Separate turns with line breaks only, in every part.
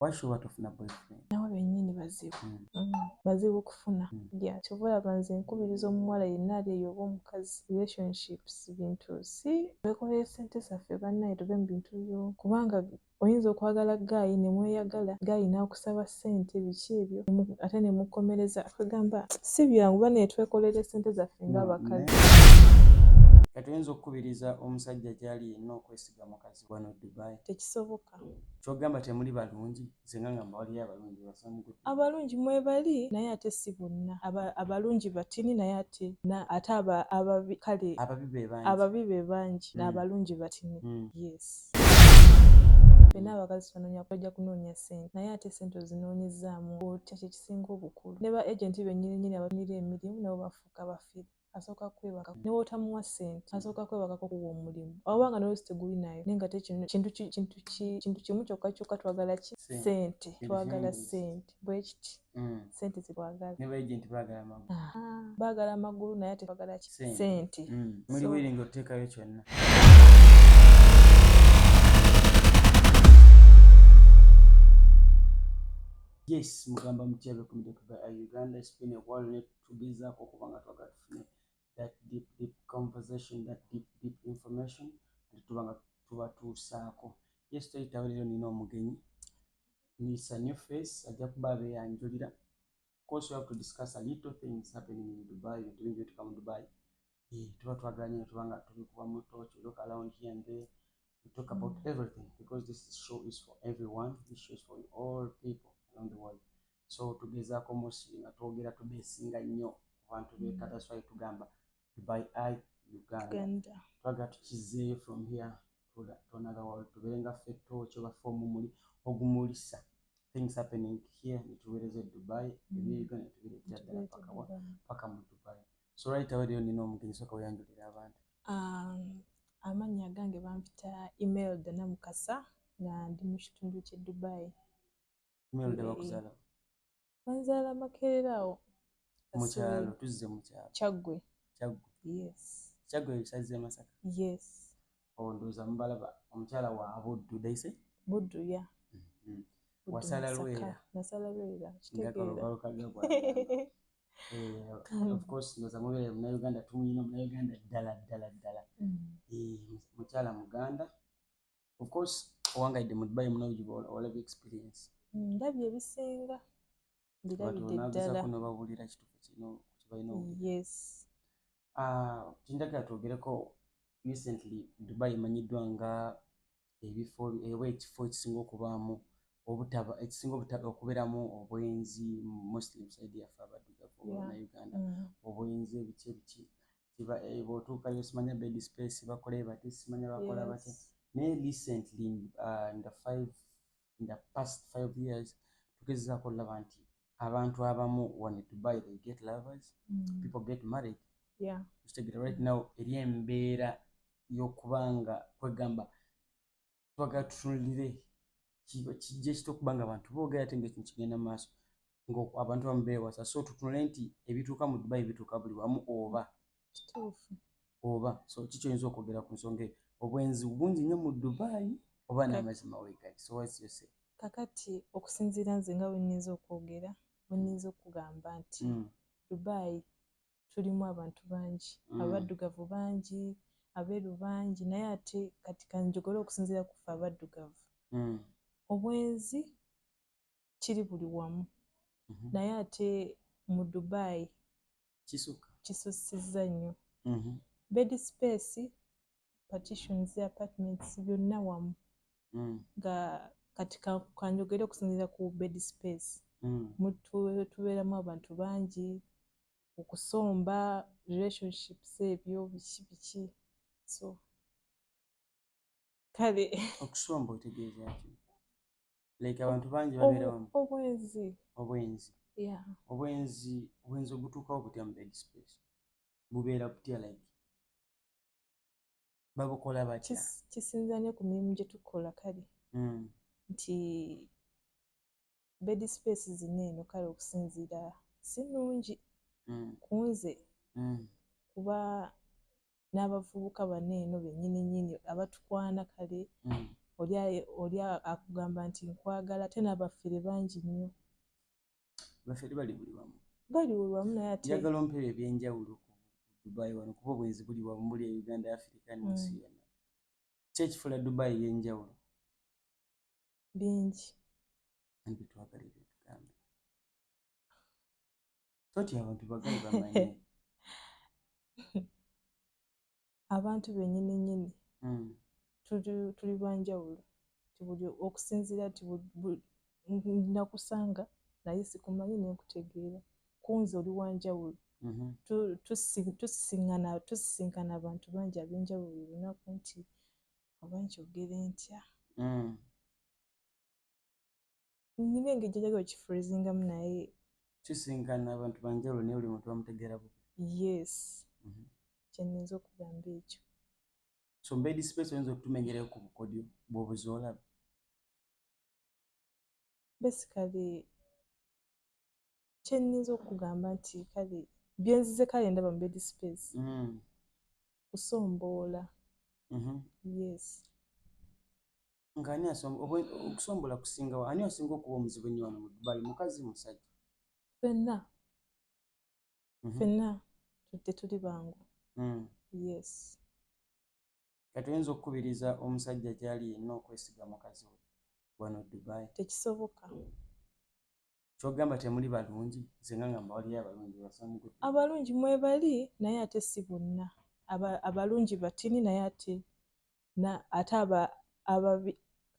washuwa tofuna boyfriend nawe benyini bazibu
mm. mm. bazibu okufuna mm. ya kyova olaba nze nkubiriza omuwala yenna ali eyo oba omukazi relationships bintu si twekolere sente zaffe bannaye tuve mu bintu byo kubanga oyinza okwagala gaayi ne mweyagala gaayi n'akusaba ssente biki ebyo ate ne mukomereza akagamba si byangu ba naye twekolere sente zaffe ng'abakazi
kati oyinza okukubiriza omusajja gy'ali yenna okwesiga mukazi wano dubai tekisoboka
kyogamba temuli
balungi zenga nga mbawaliyo abalungi basamugu abalungi mwebali
naye ate si bonna abalungi batini naye ate ate ababi kale ababi be bangi hmm. naabalungi batini hmm. yes fena abakazi tunonya kweja kunoonya sente naye ate sente ozinoonyezaamu otya kyekisinga obukulu ne ba agenti benyini nyini abatunira emirimu nabo bafuuka bafiri asooka kwebaka ne bwotamuwa ssente asooka kwebakako kuwa omulimu oba nga nolwesi teguli nayo naye nga tekintu kimu kyokka kyokka twagala ki ssente twagala ssente bwe kiti mm. ssente zitwagala
baagala amagulu
naye ate twagala ki ssente mm. muli wiringa
oteekayo kyonna yes mugamba mutya bekumidekuba uganda spin a wallet tugezaako okuba nga twagala tufune that deep deep conversation that deep deep information ate tuba nga tubatuusaako yes toyitawo leero nina omugenyi nisa new face ajja kuba abeyanjulira course we have to discuss a little things happening in dubai ebintu bingi bituka mu dubai Eh, tuba twagala nyo tuba nga tubikuba mu torch we look around here and there we talk about mm. everything because this show is for everyone this show is for all people around the world so tugezaako musi nga twogera tubesinga nnyo ku bantu beka mm. that's why tugamba dubai i uganda twagala tukizeeyo from here to, to another world tubeere nga ffe torch oba fe omumuli ogumulisa things happening here nituweereza e dubai mm. ebiri uganda netubireetera ddala paka mu dubai um, amannya
agange bampita email dona mukasa nga ndi mu kitundu kye dubai
banzaala
makerera awo mukyalo
tuzze mukyalo kyaggwe kyaggwe yes kyaggwe ebisazi emasaka yes
ondooza oh,
mubalaba omukyala wa buddu daise buddu ya
mm-hmm.
wasala lwera nasala lwera
kitegeera
Eh, of course ndoza mubere muna uganda tumuyina muna uganda ddala ddala ddala mm. eh, mukyala muganda of course owangaidde mu dubai muna olaba experience mm, ndabye
ebisinga ndirabideddalakuno babulira kitufu
kino kibalina yes
ah,
kinjagala twogereko recently dubai emanyiddwa nga ebifo ewa ekifo ekisinga okubaamu obutaba ekisinga obutaba okubeeramu obwenzi muslim side yaffe abaddugavu na uganda mm. obwenzi ebiki ebiki eh, bwotuukayo simanya bed space bakola ebati simanya bakola bati naye recently uh, in the five in the past five years tugezezaako olaba nti abantu abamu wano dubai they get lovers mm. people get married yeah. kitegera right now eri embeera y'okuba nga kwegamba twagala tutunulire kijja kita okuba nga abantu boogera ate nga ekintu kigenda mu maaso ngaabantu bamu beewasa so tutunule nti ebituuka mu dubai bituuka buli wamu oba
oba so
kikyo oyinza okwogera ku nsonga eyo obwenzi bungi nnyo mu dubai oba namazima wegali so what's your say kakati
okusinziira nze nga wenyinza okwogera wenyinza okugamba nti mm. dubai tulimu abantu bangi mm. abaddugavu bangi abeeru bangi naye ate kati kanjogole okusinziira kufe abaddugavu mm. obwenzi kiri buli wamu mhm. naye ate mu dubai kisusiza nnyo mhm. bed space partitions apartments byonna wamu mm. nga kati kanjogere okusinzira ku bed space mm. tubeeramu abantu bangi okusomba relationships ebyo biki biki so kale okusomba otegeeza
ki like abantu bangi babeera wamu obwenzi obwenzi yeah obwenzi obwenzi obutuukawo butya mu bed space bubeera butya like babukola batya kisinza ne ku
mirimu gye tukola kale mm. nti bed space zino eno kale okusinziira si nnungi mm. ku nze mm. kuba n'abavubuka bano eno bennyini nyini abatukwana kale mm. oli akugamba nti nkwagala ate n'abafere bangi nnyo
bafere bali buli wamu bali buli wamu naye
ate njagala ompera ebyenjawulo
ku dubai wano kuba obwenzi buli wamu buli e uganda afrika nensi yona kyekifula dubai yenjawulo bingi
nbitwagala
ebyotugambe toti abantu bagali
bamanye abantu benyini nyini mm. tuli banjawulo tibuli okusinziira ti nakusanga naye sikumanyi nenkutegeera kunze oli wanjawulo mm-hmm. tusisinkana abantu bangi abenjawulo olunaku nti oba nkyogere ntya mm. nina engeri gyajaga okifreezingamu naye kisinkana
abantu banjawulo naye buli muntu bamutegeera bu yes mm
-hmm. kyenyinza okugamba ekyo so
mbedi space oyinza okutumenyerayo ku bukodyo bwobuzoolaba
basically kyennyinza okugamba nti kale byenzize kale ndaba mu bed space mm. kusomboola mm-hmm. yes
nga ani okusomboola kusinga ani asinga okuba omuzibu ennyo wano mu dubai mukazi musajja fenna
mm-hmm. fenna tetuli bangu mm. yes
Kati oyinza okukubiriza omusajja gyali yenna okwesiga mukazi we wano Dubai? Tekisoboka. Kyogamba temuli balungi zenga nga mbawaliyo abalungi basamugu. Abalungi mwebali
naye ate si bonna. Abalungi batini naye ate na ate aba ababi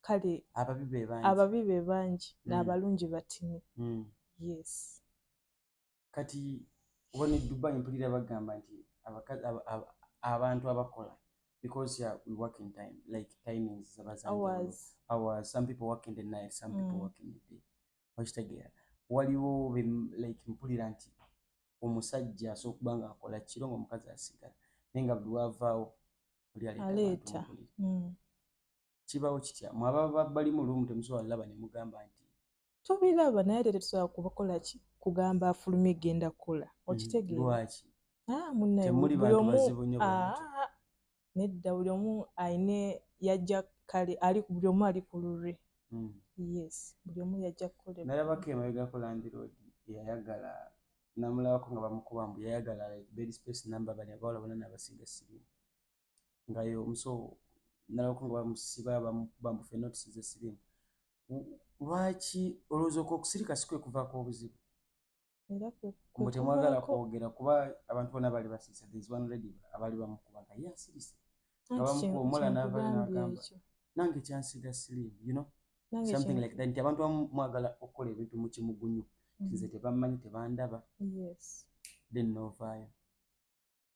kale ababi be bangi. Ababi be bangi mm. na abalungi batini. Mm. Yes.
kati oba ne dubai mpulira bagamba nti abantu abakola because ya we work in time like timings zabazanjawulo some people work in the night some mm. people work in the day okitegeera waliwo like mpulira nti omusajja asobola okuba nga akola kiro nga omukazi asigala naye nga buli wavaawo oli aleeta kibawo kitya mwababa bali mu lumu temusobola laba ne mugamba nti tubilaba naye
ate tetusobola kubakola ki kugamba afulumye genda kukola mm, okitegeera lwaki ah,
munaemuli
bantu bazibu nyo ah, ah, nedda buli omu ayine yajja kale ali buli omu ali ku lulwe mm. yes buli omu yajja kukola nalabako emabegako
landiroodi yayagala namulabako nga bamukuba mbu yayagala like bed space number bali abawala bona nabasiga sirimu nga yo muso nalako nga bamusiba bamukuba mbufe notes ze sirimu lwaki olowooza oku okusirika si kwe kuvaako obuzibu mbu temwagala kwogera kuba abantu bona bali basiise there is one lady abali bamukuba nga ye asirise nga bamukuba omuwala navayo nagamba nange kyansiga sirimu you know something like that nti abantu bamu mwagala okukola ebintu mu kimugunyu nze mm-hmm. tebamanyi tebandaba
then novaayo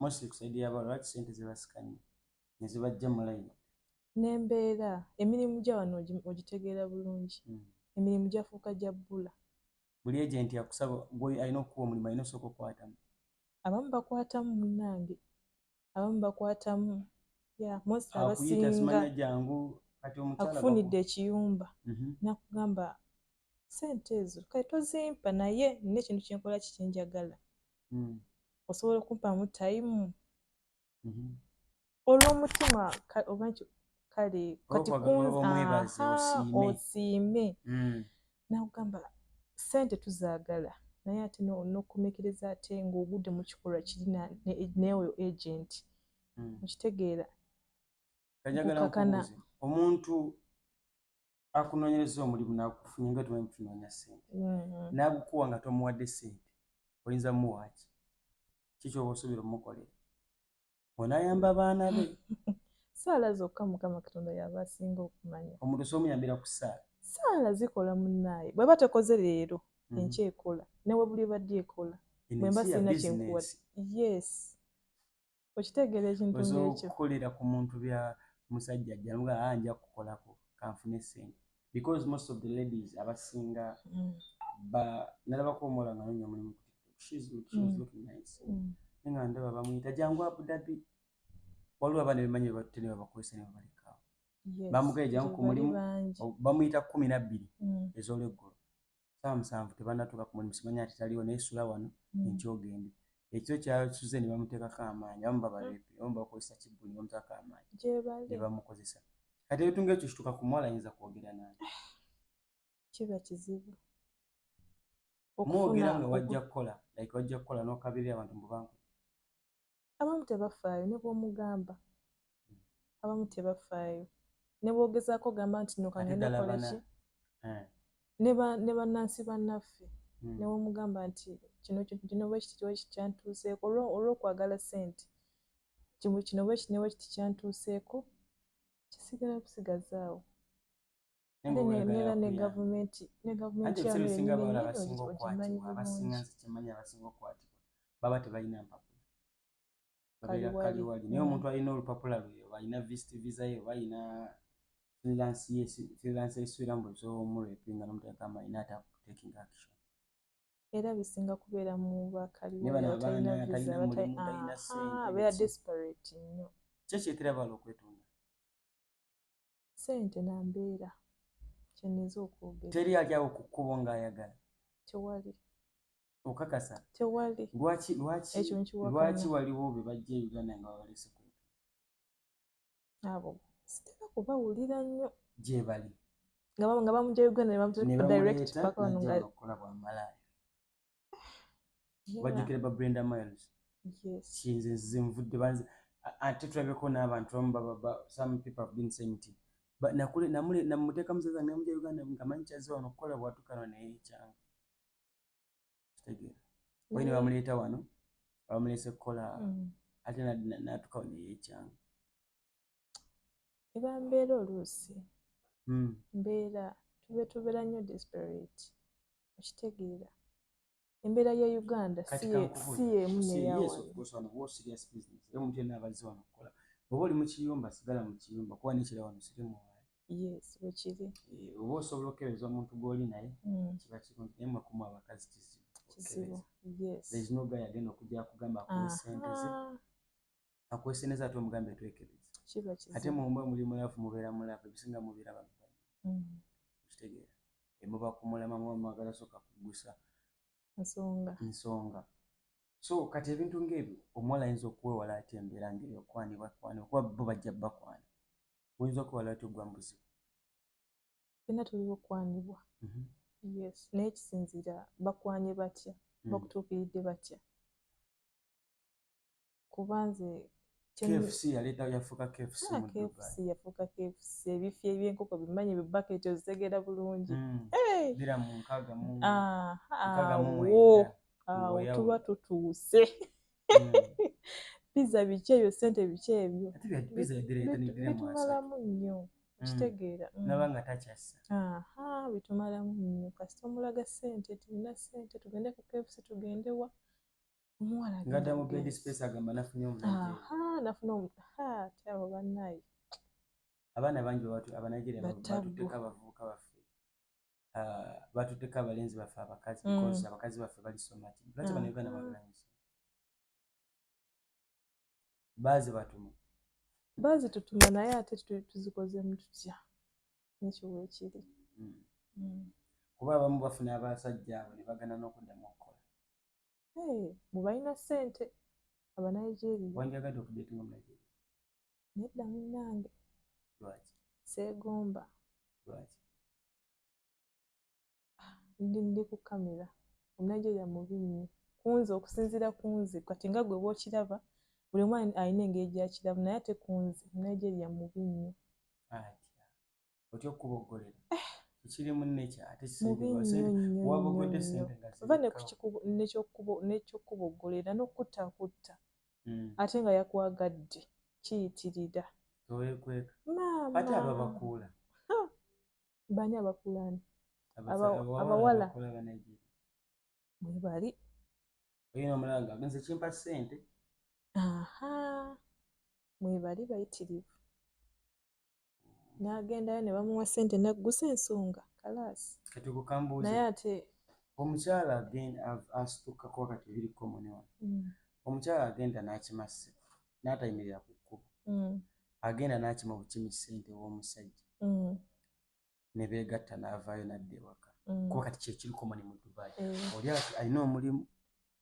mostly kusayidi yaba lwaki sente zebasikanye nezibajja mulayini nembeera
emirimu gya wano ogitegeera bulungi hmm. emirimu gyafuuka gya bbula buli agenti
akusaba gwe alina okukuwa omulimu alina osooka okukwatamu abamu
bakwatamu munange abamu bakwatamu
akufunidde ekiyumba
mhm. nakugamba sente ezo kati tozimpa naye nina ekintu kyenkola kikinjagala mm. osobola okumpaamu tayimu mhm. olw'omutima oba nti kale kati
kunosiime
mm. nakugamba sente tuzaagala naye ate nokumiikiriza ate ng'ogudde mu kikolwa kiri neoyo agenti mm. okitegeera
kakana omuntu akunonyereza omulimu nakufunye nga tumanyi tunonya sente mm-hmm. nagukuwa nga tomuwadde sente oyinza muwaaki kikyoba osuubira omukolera onayamba abaana be saala
zokka mukama katonda yaba asinga okumanya omuntu somuyambira ku
saala saala zikola
munaaye bweba tekoze leero mm-hmm. enkya ekola newe buli badde ekola bwemba sirina kyenkuwa yes okitegeera ekintu ngekyo okukolera ku muntu
bya musajja ajjamuga ah, anja kukolako kanfune sente because most of the ladies abasinga mm. ba nalabako omuwala nga nonya omulimu ku tiktok she is looking, she is mm. looking nice mm. nga ndaba bamuyita jangu abudabi waliwo abaana bemanyi bebatte ne babakozesa ne babalekaawo bamugaye jangu ku mulimu bamuyita kumi nabbiri mm. ezolweggulo saawa musanvu tebanatuuka ku mulimu simanya ati taliwo naye sula wano mm. enkya ogende ekyo kyasuze ne bamuteekako amaanyi abamu babaleepe abamu bakozesa kibbu ne bamuteekako amaanyi ne bamukozesa kati ebintu ngaekyo kituuka ku muwala ayinza kwogera naye
kiba kizibu
mwogera nga wajja kukola like wajja kukola nokabirira abantu mubanku
abamu tebafaayo ne bw'omugamba abamu tebafaayo ne bwogezaako ogamba nti no kangenakoleki eh. ne bannansi bannaffe hmm. ne bwomugamba nti kino kintu kino bwekiti bwekiti kyantuuseeko olw'okwagala sente kino bwekiti ne bwekiti kyantuuseeko kisigala busigazaawo
baba tebalina mpapula babeera kaliwali naye omuntu alina olupapula lwe oba alina vist visa ye oba alina freelance esuira mbu osobola omurepinga nomuteeka amayi nata taking action era
bisinga kubeera mu bakaliwaliabeera desperate nnyo kyekyekirabala
okwetonda
sente na mbeera kyeneza okwogera teri ajawo ku kkubo
ng'ayagala tewali okakasa tewali
lwaki lwaki ekyo nkiwakana
lwaki waliwo be bajja e uganda nga babalese ku
abo sitera kubawulira nnyo gye bali
nga bamugya
uganda ne bamuteeka direct paka wano nga okola bwa malaaya
bajjukira ba brenda miles kinze
nzize nvudde
banze ate tulabeko n'abantu bamu some people have been saying ti namuteeka muzaza nemuja uganda ngamanyi kyaze wano okukola bwatukana naye ekyanga kitegeera oyi ne bamuleeta wano bamuleese kukola mm. ate natukawo naye ekyanga
eba mbeera oluusi hmm. mbeera tube tubeera nnyo desperate okitegeera embeera ya uganda
si yemu neyawanobwoba oli mukiyumba sigala mukiyumba kuba nekira wano sirimu yes wekiri
eh, oba osobola
okukereza omuntu gwoli naye hmm. kiba kirungi naye mwakumu abakazi kizibu kizibu yes there is
no guy agenda
okujja kugamba ku sente ze akweseneza ate omugambe twekebeza ate mumba
muli mulafu
mubeera mulafu ebisinga mubeera babibanyi mm. kitegeera emuba kumulama muba mwagala soka kugusa nsonga nsonga so kati ebintu ngaebyo omuwala ayinza okuwewala ati embeera ngaeyo okwanibwa kwana okuba bo bajja bakwana oyinza okuwala ati ogwa mubuzibu
fena tuliwo okwanibwa mhm. yes naye kisinzira bakwanye batya mm. bakutuukiridde batya kuba nze KFC yaleta
yafuka KFC ah, mu Dubai. KFC yafuka KFC
ebifi ebyenkoko bimanyi bi bucket ozegera bulungi. Mm. Hey. Bira mu
nkaga mu. Ah, nkaga mu. Wo.
Ah, tuba tutuuse. Mm. Pizza biche yo sente biche ebyo. Ati bya pizza ya dire tani dire mu asa. Bitumala munyo. Mm. Kitegeera. Mm. Nabanga tachasa.
Aha, bitumala
munyo. Kasita omulaga sente tulina sente tugende ku KFC tugende wa. ngada mu bed
space agamba nafunye omukyabo
banaye abaana
bangi abanigeria batuteka abavubuka baffe ah, batuteka abalenzi baffe abakazi mm. abakazi baffe bali somati lwaki mm. banauganda bagalanyisa baazi batuma baazi tutuma naye ate
tuzikozemu tutya nekyo wekiri hmm. hmm.
kuba abamu bafuna abasajja abo ne bagana n'okuddamu okukola
bwe balina ssente abanigeria wanjagadde okudetinga
munigeria nedda
munnange lwaki
seegomba
lwaki ah, ndi ndi ku kamera omunigeria mubi nnyo kunze okusinziira kunze kati nga gwe bwokiraba buli omu alina engeri gyakirabu naye ate kunze omunigeria mubi nnyo
otya okuboggolera eh. ekirimu nekyo ate kiwabogode
sente ova nekyokuboggolera nokutta kutta hmm. ate nga yakwagadde kiyitirira towekweka
ate ababakuula
bani abakulani abawala mwebali mwebali bayitirivu nagendayo ne bamuwa sente naggusa ensonga kalaasi naye ate
omukyala asitukkako wakati biri komone wano mm. omukyala agenda n'akima ssente n'atayimirira ku kkubo mm. agenda n'akima obukimi ssente w'omusajja mm. ne beegatta n'avaayo n'adda ewaka mm. kuba kati kyekirikoma ne mu dubai eh. oli alina omulimu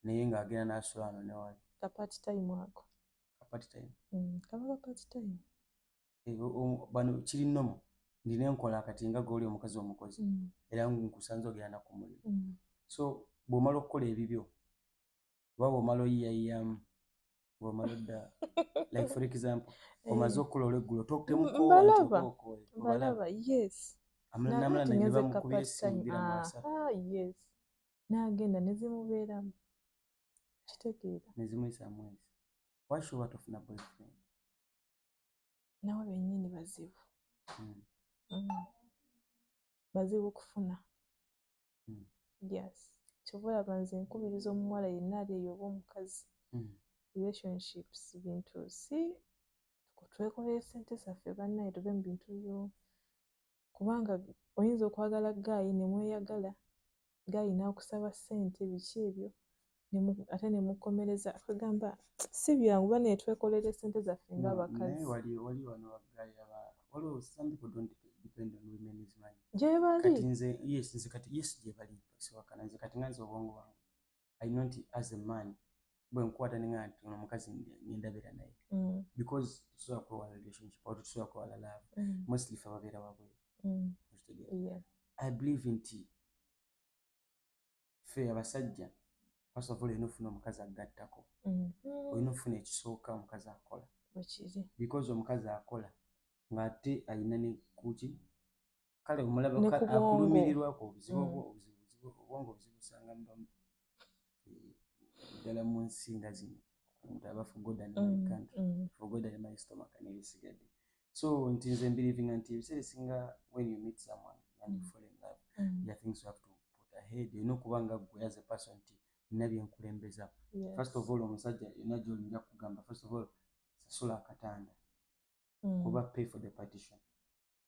naye ng'agenda n'asulaano newali kapati tayimu ako
kapati tayimu mm,
kaba kapati
tayimu eh,
bano kiri nomu ndina enkola kati nga goli omukazi omukozi mm. era nkusanze ogenda naku mulimu mm. so bw'omala okukola ebibyo oba bwomala oyiyayiyamu bwomala odda like for example eh. omaze okukula olweggulo toktemukobalaba yes
nagenda nezimubeeramu kitegeera nezimuyisa
mwezi washuba tofuna boyfriend
nawe benyini bazibu hmm. hmm. bazibu okufuna mm. yes kyova olaba nze nkubiriza omuwala yenna ali eyo oba omukazi mm. relationships bintu si twekolere sente zaffe bannaye tuve mu bintu byo kubanga oyinza okwagala gaayi ne mweyagala gaayi n'akusaba ssente biki ebyo ate nemukomereza kwegamba si byangu ba netwekolera esente zaffe nga
abakazi
gyebali
bwenkwata ninga nti ono omukazi nendabira naye mm. because tusobola kwewala relationship oba tusobola kwewala love mm. mostly fe ababeera wabweru mm. i believe nti ffe abasajja first of all olina ofuna omukazi agattako mhm. olina ofuna ekisooka omukazi akola because omukazi akola ngaate alina nekuki kale omulaba akulumirirwako obuzibu mm. obwongo obuzibu osanga mubamu eh, ddala mu nsinga zino omuntu aba forgoda mm, my country mm. forgoda my stomach nebisigadde so nti nze mbelivinga nti ebiseera esinga when you meet someone and you mm. fall in love mm. the things you have to put ahead olina okuba nga gwe as a person nti nina byenkulembeza yes. first of all omusajja yona gyolinja kugamba first of all sasula akatanda mm. oba pay for the partition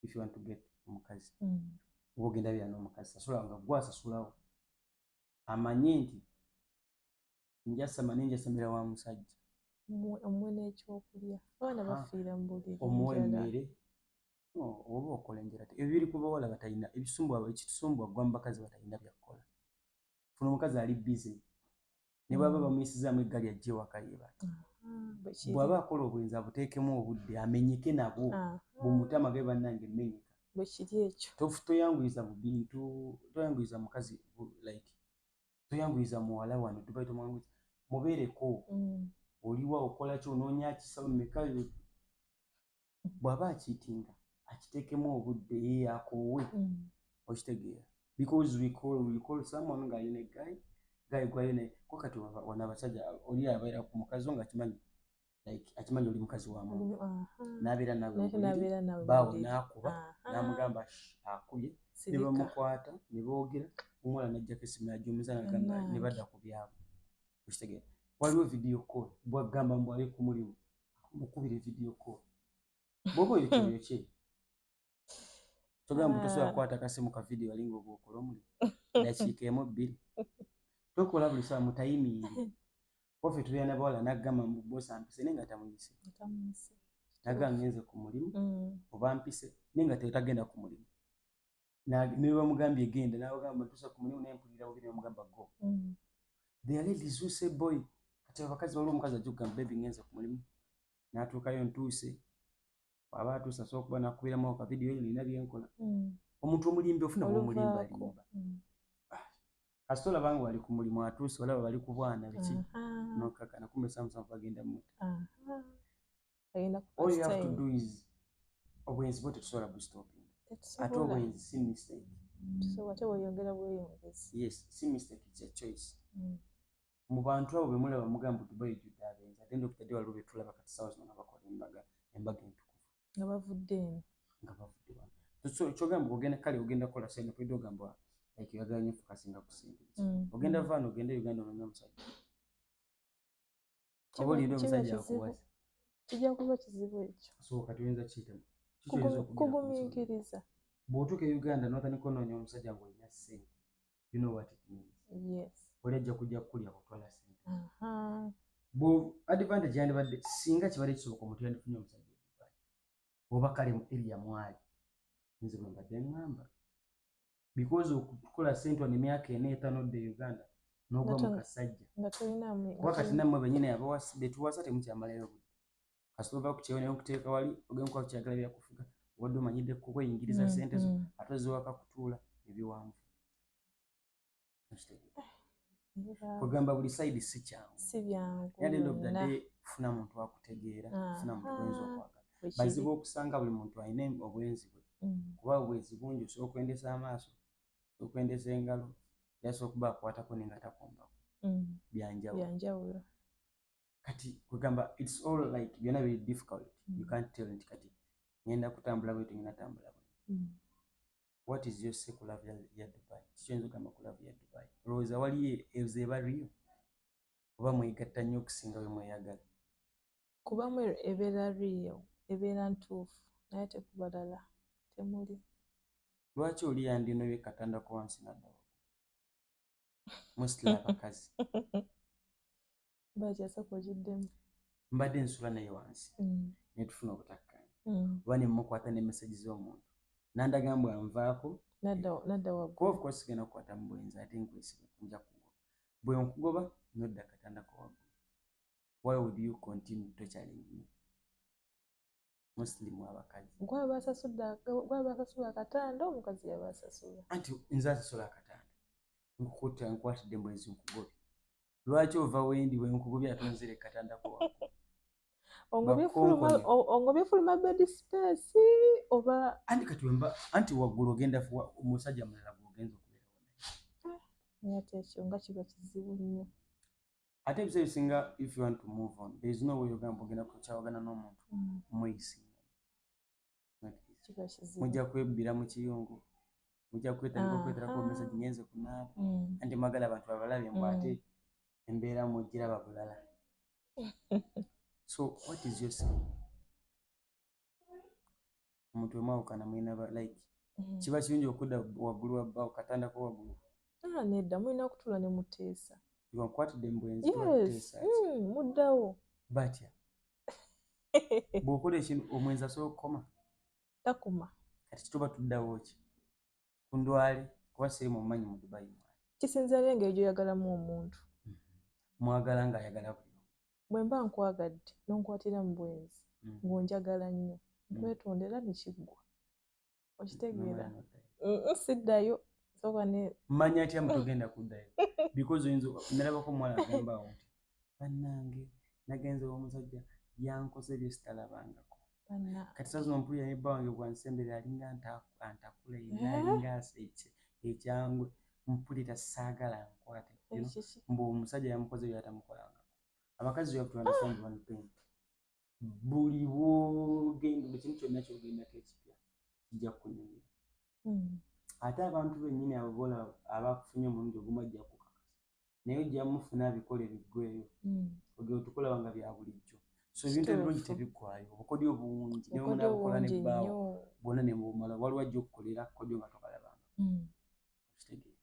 if you want to get omukazi mm. oba ogenda bya n'omukazi sasula nga gwasasulawo amanye nti njasama naye njasamira wa musajja omuwe
n'ekyokulya abaana bafiira mu buliri omuwa emmere
oh, oba okola enjala ebiri ku bawala batalina ebisumbwa ekitusumbwa gwa mu bakazi batalina byakukola funa omukazi ali bize ne bwaba mm. bamuyisizaamu eggali ajja ewaka yebaka bwaba akola obwenzi abuteekemu obudde amenyeke nabwo bumutama ge bannange mmenyeka bwekiri ekyo
toyanguyiza mu bintu
toyanguyiza mukazi like toyanguyiza muwala wano dubai tomwanguyiza mubeereko mm. oliwa okola ki onoonya kisawo meka bw'aba akiitinga akiteekemu obudde ye akoowe mm. okitegeera because we call, we call someone ng'ali ne guy guy gwayo naye ko kati wana abasajja oli abeera ku mukazi wo nga kimanyi like akimanyi oli mukazi wa muntu nabeera nawenabeera nawe baawo nakuba namugamba akubye ne bamukwata ne boogera omuwala najjako esimu najja omuzana gamba ne badda ku byabo okitegera waliwo vidiyo call bwagamba mbwali kumulimu mukubire vidiyo call bwoba oyo kyoyo kye togamba ah. tosobola kukwata kasimu ka vidiyo alinga obwokola omuli dakiika emu bbiri tokola buli saa mutayimingi ofe tubeera nabawala nagamba mbubosampise naye nga tamuyise naga ngenze ku mulimu mm. oba mpise naye nga tetagenda ku mulimu nebamugambye genda nabagamba tusa ku mulimu naye mpulira bubi nebamugamba go mm. the ladies who say boy kati abakazi waliwo omukazi ajja okugamba bebi ngenze ku mulimu natuukayo ntuuse aba atuuse asobola okuba nakubiramu ako kavidiyo yo nina byenkola mm. omuntu omulimbi ofuna omulimbalimba mm. ah, kasita olaba nga wali ku mulimu atuuse olaba bali ku bwana biki nokakana kumbe samusamu bagenda muta all you have to do is obwenzi bwo tetusobola bustoping ate obwenzi si mistake mm. yes si mistake it's a choice mu bantu abo bemulaba mugamba mbu dubai ejjudde abenzi at the end of the day waliwo betulaba kati sawa zino nga bakola embaga embaga entukuvu nga bavudde
eno nga bavudde wano so kyogamba
ogenda kale ogenda kola sente kwedde ogamba like oyagala nyo fokasinga ku sente mm. ogenda vaano ogenda uganda ononya omusajja oba olinde omusajja akuwasa kijja kuba
kizibu ekyo so kati oyinza kiyitamu
kugumiikiriza bw'otuuka e uganda notandika onoonya omusajja ng'olina ssente you know what it means yes
oli ajja kujja
kukulya kutwala sente bu advantage yandibadde singa kibadde kisoboka omuntu yandifunye omusajja oba kale mu eria mwali nze bwe mbadde ŋŋamba because okukola sente wano emyaka ena etano dde uganda n'ogwa mu kasajja kuba kati nammwe benyini abawa betuwasa temukyamalayo budde kasita ova ku kyeyo naye okuteeka wali ogenda kuba kyagala byakufuga obadde omanyidde kukweyingiriza mm, sente zo mm. ate oziwaka kutuula ebiwanvu kwegamba buli saidi si kyanguyaendofuna muntu akutegeera ah, funa muntu bwenzi ah, okwagala bazibu okusanga buli muntu alina obwenzi bwe mm. kuba obwenzi bungi osobola okwendesa amaaso okwendesa engalo yasobola okuba akwatako nenga takombako byanjawulo kati kwegamba its all like byona biri difficult mm. you can't tell nti kati ngenda kutambula bwe tengenda tambula bwe mm. what is your say ku love ya dubai kikyoyinza okugamba ku love ya dubai olowooza wali ezo eba rio oba mwegatta nnyo okusinga bwe mweyagala kuba
mwe ebeera rio ebeera ntuufu naye tekubalala temuli lwaki
oli yandinobye katandako wansi naddawa mostly abakazi
mbadde nsula
naye wansi mm. netufuna obutakkaanya mm. oba nemukwata ne meseji z'omuntu nandaga mbu anvaako
kuba sigenda kukwata
mu bwenzi ate nkwesiga nja kugoba bwe nkugoba nodda katanda kowaggu why would you continue torturing me musilimu abakazi
gwabasasula akatanda omukazi yabasasula anti nze asasula
akatanda nkukuta nkwatidde mwezi nkugobi lwaki ova wendi wenkugobi ate onzire katanda kwa
ongobye fuluma bedi sipesi oba anti katiwemba
anti waggulu ogenda omusajja mulala gwogenza okubeerawo naye ate
ekyo nga kiba kizibu nnyo ate
ebiseera ebisinga if you want to move on there is no way ogamba ogenda kukyawagana n'omuntu mm. mweyisi mujja kwebbira mu kiyungu mujja kwetandika okweterako omesa ginyenze kunaaba mm. anti mwagala abantu babalabye mbu ate mm. embeera mugiraba bulala so what is your saying omuntu wemwawukana mulina ba like mm. kiba kirungi okudda waggulu wabba okatandako waggulu ah, nedda mulina
kutula ne muteesa iwankwatidde mubwenzi
mm, muddawo
batya
bwokola ekintu omwenzi asobola okukoma takuma
kati kituba
tuddawo ki kundwale kuba siri mumanyi mu dubai mwana kisinzira n'engeri
gyoyagalamu omuntu mm-hmm. mwagala
ng'ayagala buli bwe mba
nkwagadde n'onkwatira mu bwenzi mm. ng'onjagala nnyo mm. nkwetondera nekiggwa okitegeera siddayo
manya atya mutogenda kuddayo because oyinza nalabako omuwala agambawo nti bannange nagenze omusajja yankoze byesitalabangako kati sazino mpulira ne bba wange bwansembere alinga antakula ina eh? alinga aseke ekyangwe mpulira saagala nkwate mbu omusajja yamukoze byatamukolangako abakazi yabtuandesandiwanpenti buli bwogenda buli kintu kyonna kyogendako ekipya kijja kukunyumira hmm. ate abantu bennyini abo bola abakufunye omulundi ogumu ajja kukakasa naye ojja mufuna abikole biggweyo hmm. ogeo tukulaba nga bya bulijjo so ebintu ebirungi tebiggwayo obukodyo obungi neomunabukola nebbaawo bwona nebumala waliwo ajja okukolera kodyo nga tokalabanga hmm. okitegeera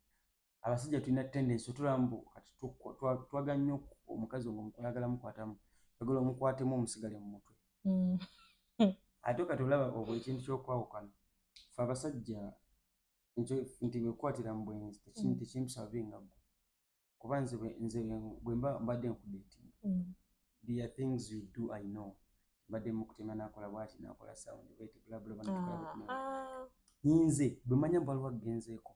abasajja tulina tendensi otulaba mbu kati twaga nnyo omukazi nga omukwayagala mukwatamu ogala omukwatemu omusigale mu mutwe mm. ate kati olaba obwo ekintu kyokwawukana fe abasajja nti bwekwatira mu bwenzi mm. tekimsavinga gwe kuba nze nze bwemba mbadde nkudeti mm. there things you do i know mbadde mukutema nakola bwati nakola sound wet bla bla bla ah, ah. nze bwemanya bwaliwo agenzeeko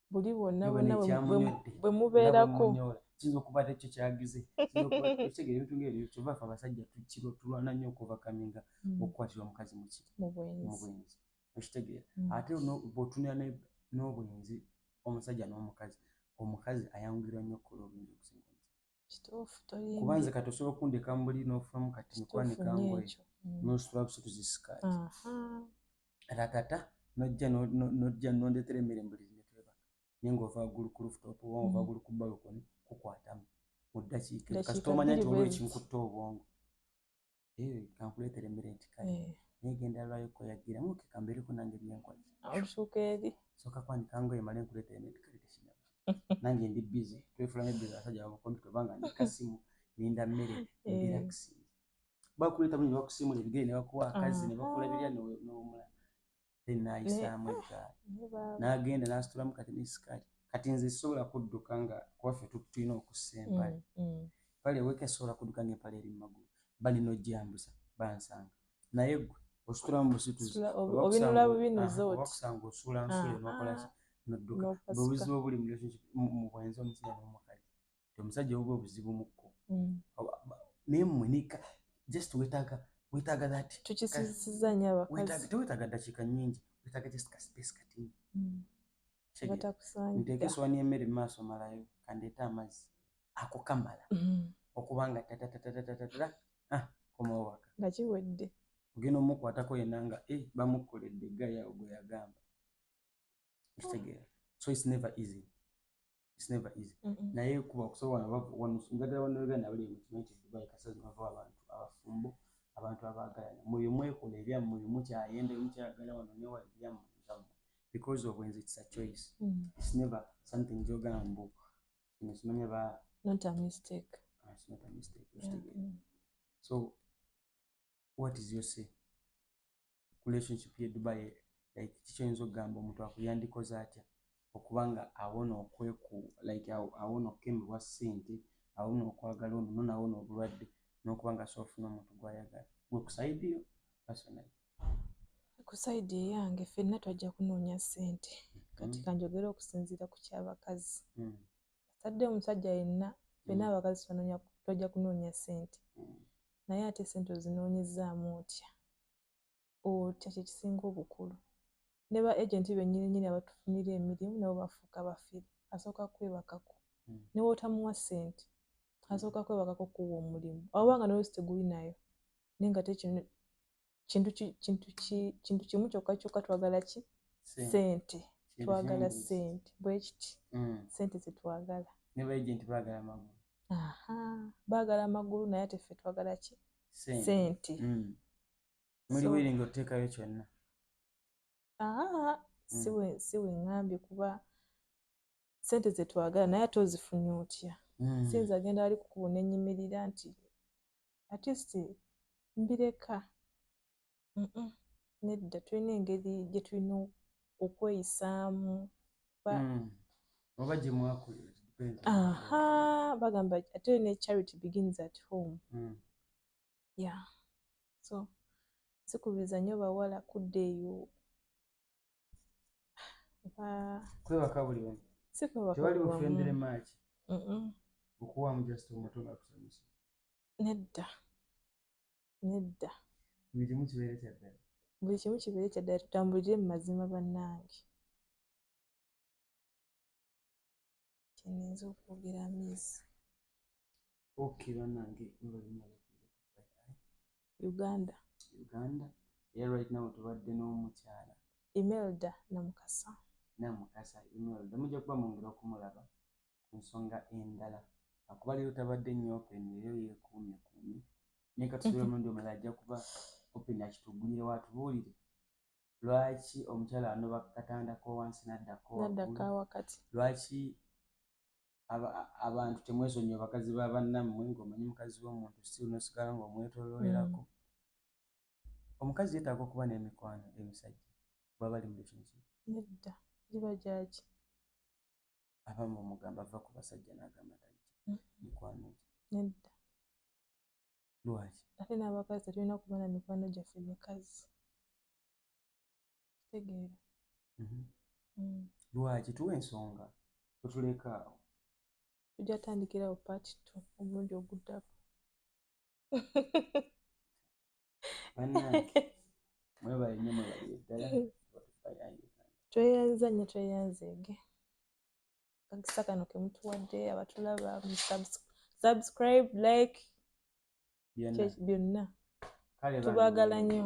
buli bwonna
bwonna bwe mubeerako kiyinza okuba ate
kyo kyagize okitegera ebintu ngaebyo kyova fe abasajja tukiro tulwana nnyo okuvakaminga mm. okukwatirwa omukazi muki mu bwenzi okitegeera mm. ate bwotunira n'obwenzi omusajja n'omukazi omukazi ayangirwa nnyo okukola obwenzi okusinga kuba nze kati osobola okundeka mubuli nofulamu kati nikwanika ngoye mm. nosula busa tuzisikaati ratata nojja nojja nondetera emmere mbuli netwebaka naye ngaova gulu ku lufutopu oba ova mm. gulu ku balukoni kukwatamu mu ddakiika kasita omanya nti olwo ekinkutte obwongo Eh, kankuleetere emmere nti kale eh. naye genda lwayo koyagira muke kambeereko nange byenkola olusuuka eri
soka kwanika ngoye
male nkuleetere emmere nti kale tekina nange ndi bize twefulamu ebize abasajja bamukompi tobanga ndi kasimu ninda mmere eh. ndiraxi bakuleeta buli nebakusimula ebigere nebakuwa akazi nebakola birya nowumula then nayisaamu eggaali n'agenda n'asitulamu kati ne sikaati kati nze sisobola kudduka nga kuwaffe tulina okussa empale mm, mm. pale weka esobola kudduka nga empale eri mu magulu balina ojjambusa bansanga naye gwe ositula mu busituziobinulabubinuzotiwakusanga
osuula nsula
ah, nokolaki ah. nodduka bwebuzibu obuli mu bwenzi omusajja n'omukazi nti omusajja oba obuzibu mukko mm. naye mmwe nika just wetaaga wetaaga that tukisisiza nnyo
abakazi tewetaaga ddakiika nnyingi
wetaaga just ka space katini mm.
nteeka esowani
y'emmere mu maaso malayo kandeeta amazzi ako kamala mm. okuba nga tatatatatatatatata ah, komawaka nga kiwedde
ogenda omukwatako
yena nga eh, bamukkoledde gaya ogweyagamba okitegeera so its never easy its never easy naye kuba okusobola njagala banauganda abali mukimanyi nti dubai kasazi bava abantu abafumbo abantu abaagalana muyo mwekola ebyammwe mukyayenda mukyayagala wano newa ebyammwe ebyammwe because obwenzi its a choice mm. its never something gyogamba mbu kino kimanya ba not a mistake
ah, it's not a
mistake yeah. so what is your say relationship ye dubai like kiki oyinza okugamba omuntu ako yandikoze atya okuba nga awona okweku like awona okukemebwa ssente awona okwagala ono nona awona obulwadde nokuba nga soofuna omuntu gwayagala gwe kusaidiyo personally
kusaidi eyange fenna twajja kunoonya ssente kati mm. kanjogere okusinziira ku kyabakazi mm. atadde omusajja yenna fenna mm. abakazi twajja kunoonya ssente naye ate sente ozinoonyezaamu otya otya kyekisinga obukulu ne ba agenti benyini nyini abatufunira emirimu nabo bafuuka bafiri asooka kwebakako hmm. newotamuwa sente asooka kwebakako kuwa omulimu awanga noyo siteguli nayo naye nga tekino kintu kintu kintu kimu kyokka kyokka twagala ki sente twagala sente bwe kiti mm. sente ze twagala ne ba agent
bagala magulu aha
bagala magulu naye ate ffe twagala ki sente mm.
muli wiringa oteekayo kyonna aa mm.
siwe siwe ngambye kuba sente zetwagala naye ate ozifunye otya mm. sinza agenda ali kukubu nenyimirira nti atist mbireka mm -mm. nedda tulina engeri gyetulina okweyisaamu ba
mm. oba gyemwakulira aha
bagamba ate ne charity begins at home mm. yeah so sikubiriza nyo bawala kudda eyo
kwebaka buli omu tewali bufendere maaki okuwamu just omuto nga kusomesa nedda
nedda buli kimu
kibeere kyaddala buli kimu kibeere
kyaddala tutambulire mu mazima bannange kyeninza okwogera mizi ok banange uganda uganda
era right now tubadde n'omukyala imelda
namukasa
namukasa imelda mujja kuba mungera okumulaba ku nsonga endala akuba leero tabadde nnyo open leero yekuumye kuumye naye katusobola omundi omulala ajja kuba open akitugulire watubuulire lwaki omukyala anoba ku katanda kowansi naddako wakati lwaki abantu temwesonyiwa bakazi ba bannammwe ngaomanyi mukazi w'omuntu si nosigala ngaomwetololerako mm. omukazi yetaaga okuba n'emikwano emisajja bwaba ali mulationship nedda
giba gyaki
abamu omugamba ava ku basajja n'agamba tajja mm. mikwano nedda lwaki ate n'abakazi
tetulina kuba na mikwano gyaffe mikazi kitegeera mhm. mm.
lwaki tuwa ensonga otuleka awo tujja
tandikirawo part t omulundi oguddako tweyanzanya tweyanzeege kakisa kano kemutuwadde abatulaba subscribe like byonna tubagala nnyo